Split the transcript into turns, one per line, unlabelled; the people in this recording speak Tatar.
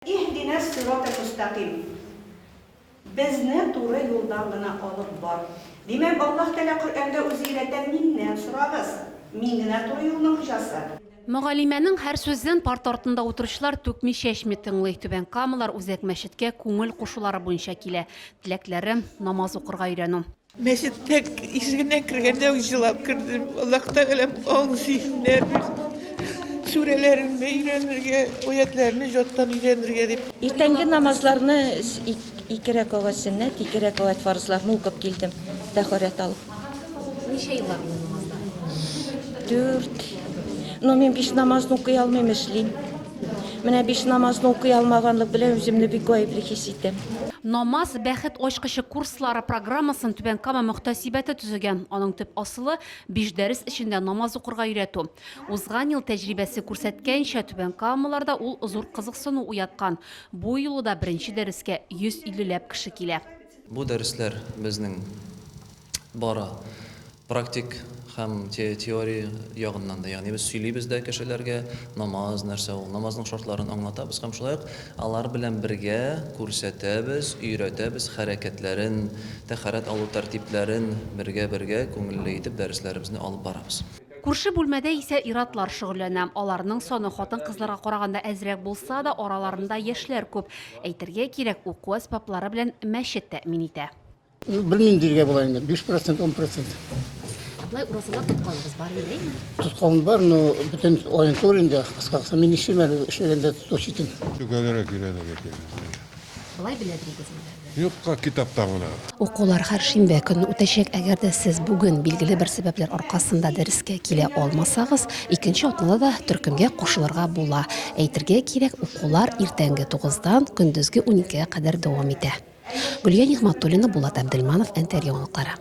Иһдина ссират әл-мөстәкыйм, Безне туры юлдан гына алып бар. Димәк, Аллаһ Тәгалә Коръәндә үзе өйрәтә, Миннән сорагыз, Мин генә туры юлның хуҗасы. Мөгаллимәнең һәр сүзен парта артында утыручылар түкми-чәчми тыңлый. Түбән Камалар Үзәк мәчеткә күңел кушулары буенча килә. Теләкләре, намаз укырга өйрәнү. Мәчет тәк ишегеннән кергәндә үк җылап кердем. Аллаһ Тәгаләм аң зиһеннәр бирсен. Сүрәләрен өйрәнергә, аятьләрне җаттан өйрәнергә дип. Иртәнге намазларны ике рәкагать сөннәт, ике рәкагать фарызларны укып килдем, тәһарәт алып. Ничә еллар булды намазлар? Дүрт. Но мин биш намазны укый алмыйм, эшлим. Менә биш намазны укый алмаганлык белән үземне бик гаепле хис итәм. Намаз, бәхет ачкычы курслары программасын Түбән Кама мөхтәсибәте төзегән. Аның төп асылы, биш дәрес эчендә намаз укырга өйрәтү. Узган ел тәҗрибәсе күрсәткәнчә, түбәнкамалыларда ул зур кызыксыну уяткан. Бу юлы да беренче дәрескә 150 ләп кеше килә. Бу дәресләр безнең бары практик һәм теория ягыннан да, ягъни без сөйлибез дә кешеләргә, намаз нәрсә ул, намазның шартларын аңлатабыз һәм шулай ук алар белән бергә күрсәтәбез, өйрәтәбез хәрәкәтләрен, тәһарәт алу тәртипләрен бергә-бергә күңелле итеп дәресләребезне алып барабыз. Күрше бүлмәдә исә ир-атлар шөгыльләнә. Аларның саны хатын-кызларга караганда әзрәк булса да, араларында яшьләр күп. Әйтергә кирәк, уку әсбаплары белән мәчет тәэмин итә. Белмим диергә була инде, биш процент, ун процент. Болай уразалар тотканыгыз бар инде, әйеме? Тоткан бар, но бөтен аен түгел инде, кыскасы, мин нишлим әле, эшләгәндә тотучы идем. Төгәлрәк өйрәнергә кирәк. Болай беләдерегезме? Юкка китап табына. Укулар һәр шимбә көнне үтәчәк. Әгәр дә сез бүген билгеле бер сәбәпләр аркасында дәрескә килә алмасагыз, икенче атнада да төркемгә кушылырга була. Әйтергә кирәк, укулар иртәнге тугыздан көндезге уникегә кадәр дәвам итә. Гөлия Нигъмәтуллина, Булат Әбделманов, Әнкәр яңалыклары.